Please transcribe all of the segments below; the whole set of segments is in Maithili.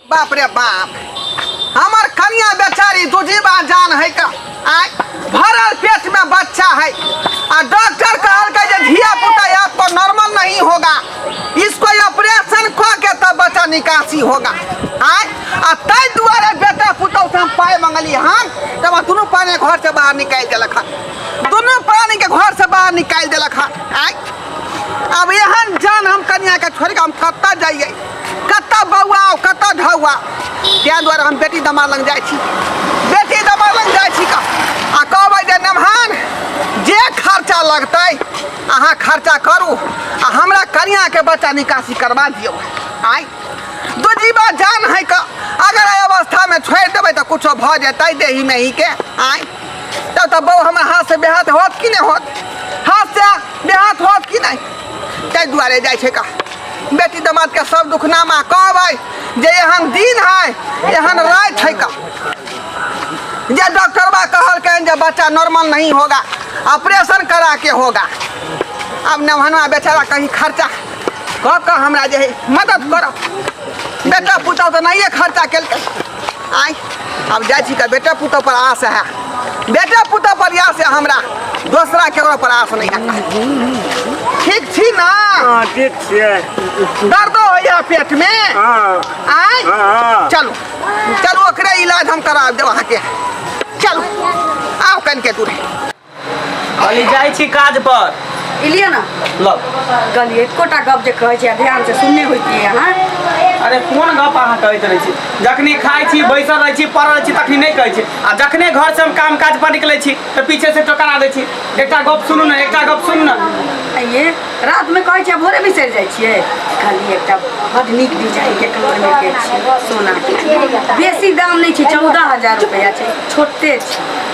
बाप रे बाप हमर कन्या बेचारी दुजीबा जान है का आय भरल पेट में बच्चा है आ डॉक्टर कहलकै जे धिया पुता या तो नॉर्मल नहीं होगा इसको ऑपरेशन क के तब बच्चा निकासी होगा आय आ ताहि दुआरे बेटा पुतौ से हम पाय मंगली हन तब दुनू प्राणी घर से बाहर निकालि देलक हन दुनू प्राणी के घर से बाहर निकालि देलक हन आय अब एहन जान हम कन्या के छोड़ के हम कतऽ जाइए कतऽ बौआउ कतऽ धौआ ताहि दुआरे हम बेटी दमाद लग जाइ छी बेटी दमाद लग जाइ छी आ कहबै जे नमहान जे खर्चा लगतै अहाँ खर्चा करू आ हमरा कनियाँके बच्चा निकासी करबा दियौ आइ दू जीवा जान है कऽ अगर एहि अवस्थामे छोड़ि देबै तऽ किछो भऽ जेतै देही मेहीके आइ तब तऽ बौ हमर हाथसँ बेहाथ होत कि नहि होत हाथसँ बेहाथ होत कि नहि ताहि दुआरे जाइ छै का बेटी दामाद के सब दुखनामा कह भाई जे एहन दिन है एहन रात है का जे डॉक्टर बा कहल कहन जे बच्चा नॉर्मल नहीं होगा ऑपरेशन करा के होगा अब नवहनवा बेचारा कहीं खर्चा कह कह हमरा जे है मदद करब बेटा पुतहु तो नहीं खर्चा केलकै आइ हम जाइ छी तऽ बेटा पुतहु पर आस है बेटा पुतहु पर आस है हमरा दोसरा केकरो पर आस नहीं है ठीक छी ना हाँ ठीक छियै दर्दो होइया पेट में हाँ आय हाँ चलू चलू ओकरे इलाज हम करा देब अहाँके चलू आउ कनिके दूर कहली जाइ छी काज पर इलिए ना लग कहली एकोटा गप जे कहै छै ध्यान से सुनने होइतिए अहाँ अरे कोन गप अहाँ कहैत रहै छी जखने खाइ छी बैसल रहै छी पड़ल रहै छी तखने नहि कहै छी आ जखने घर से हम काम काज पर निकलै छी तऽ पीछे से टोकरा दै छी एकटा गप सुनू ने एकटा गप सुनू ने आइए रात में कहै छियै भोरे बिसरि जाइ छियै कहली एकटा बड नीक डिजाइन के कलर में के छियै सोना के बेसी दाम नहि छै चौदह हजार रुपैआ छै छोटे छै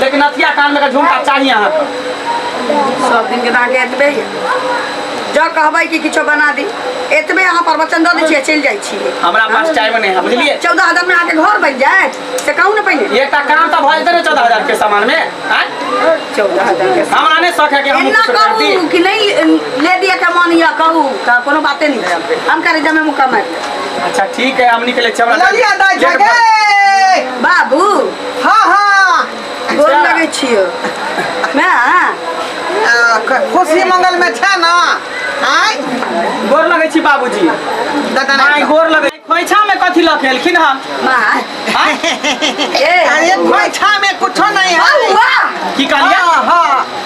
लेकिन अथिया कान में के झुमका चाहिए अहाँ के सब दिन के दाँके एतबे ये जँ कहबै कि किछो बना दी एतबे अहाँ प्रवचन दऽ दै छियै चलि जाइ छियै हमरा पास टाइम नहि है बुझलिए चौदह हजार में अहाँके घर बनि जायत से कहू ने पहिने एकटा काम तऽ भऽ जेतै ने चौदह हजार के सामान में आँय? चौदह हजार के हमरा नहि शौक है कि हम एना कुछ करती करू कि नहि लेडिये के मन यऽ कहू तऽ कोनो बाते नहि हम करे जमे मुकम्मल अच्छा ठीक है हम निकले छी हमरा ललिया दाई गेट पर- छगे बाबू हां हां गोर लगै छियो ना खुशी मंगल में छै ना आय गोर लगै छी बाबूजी दादा माय ना गोर लगै खोइछा में कथी लऽ के एलखिन हन माँ आँय? ए अरे खोइछा में कुछो नहीं है बउआ की कहलियै हां हां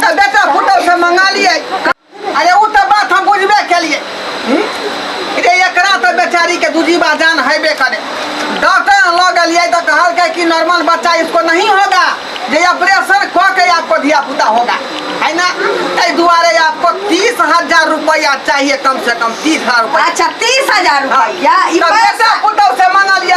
तऽ बेटा पुतहु से मंगा लिए अरे ओ तऽ बात हम बुझबे केलिए रे एकरा तऽ बेचारी के दूजीबा जान हेबे करे डॉक्टर लऽ गेलिए तऽ कहलकै कि नॉर्मल बच्चा इसको नहीं होगा जे ऑपरेशन कऽ के आपको धिया पुता होगा है ना ताहि दुआरे आपको तीस हजार रुपया चाहिए कम से कम तीस हजार रुपया अच्छा तीस हजार हाँ, रुपया ई तऽ बेटा पैसा पुतहु से मंगलिए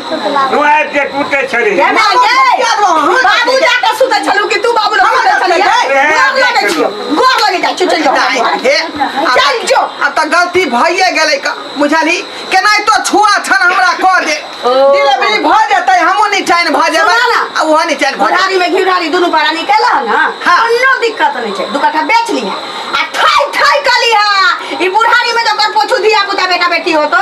तू आबि जे टूटे छली केना ये बाबू जाके सुते छलू कि तू बाबू लग सुते छलिए गोर लगे छियो गोर लगे जा चल जा चल जो अब तऽ गलती भइए गेलै क बुझली केनाहितो छुआ छन हमरा कऽ दे डिलीवरी भऽ जेतै हमहूँ निचाइन भऽ जेबै सुनऽ ना। आ ओहो निचाइन भऽ जेतै घोड़ारी में घिउरारी दुनू पारा निकल ना हाँ। कोनो दिक्कत नहीं छै दू कट्ठा बेच लिहा आ ठाई ठाई कलिहा ई बुढ़ारी में जकर पोछू धिया पुता बेटा बेटी हो तो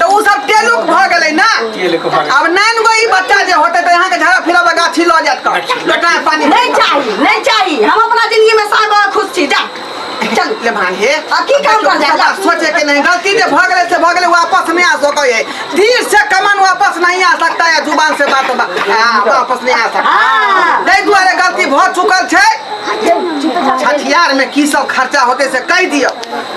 तऽ ओ सब तेलुक भऽ गेलै ने तेलुक भऽ गेलै। आब नाइन गो ई बच्चा जे होतै तऽ अहाँके झाड़ा फिरा बगा छी लऽ जायत कऽ बेटा पानी नहीं चाहिए नहीं चाहिए हम अपना जिंदगी में साग और खुश छी जा चल ले भाई हे आ की काम कर जाए? बात सोचे के नहीं गलती जे भऽ गेलै से भऽ गेलै वापस नहीं आ सकै है दिल से कमन वापस नहीं आ सकता है जुबान से बात बा- आ, वापस नहीं आ सकता हाँ। ताहि दुआरे गलती भऽ चुकल छै छठियार में की सब खर्चा होते से कहि दियौ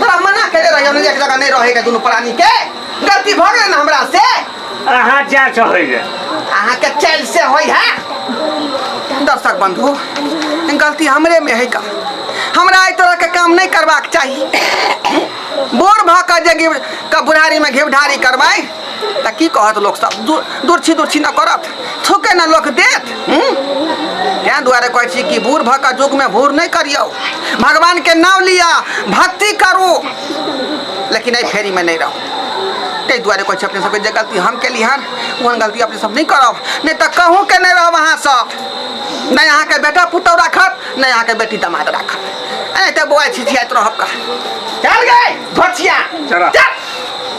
तोरा मना करे रही हम एक जगह नहीं रहे के दोनों प्राणी के गलती भ गेल ना हमरा से अहाँ जा चाहै रे अहाँ के चैल से होई है दर्शक बंधु गलती हमरे में है का हमरा एहि तरह के काम नहीं करबाक चाही बोर भऽ कऽ जे घिव- के बुढ़ारी में घिवढारी करबै तऽ की कहत लोक सब दूर दूर छी दूर छी ने करत थुके ने लोक देत हूँ? तें दुआरे कहै छी कि बूढ़ भऽ कऽ युगमे भूर नहि करियौ भगवानके नाम लिअ भक्ति करू लेकिन एहि फेरीमे नहि रहू ताहि दुआरे कहै छी अपने सबके जे गलती हम केली हन ओहन गलती अपने सब नहि करब नहि तऽ कहूँ के नहि रहब अहाँ सब नहि अहाँके बेटा पुतहु राखत नहि अहाँके बेटी दामाद राखत एनाहिते बौआ छिछियाइत रहब का चल गए घोचिया चला। चल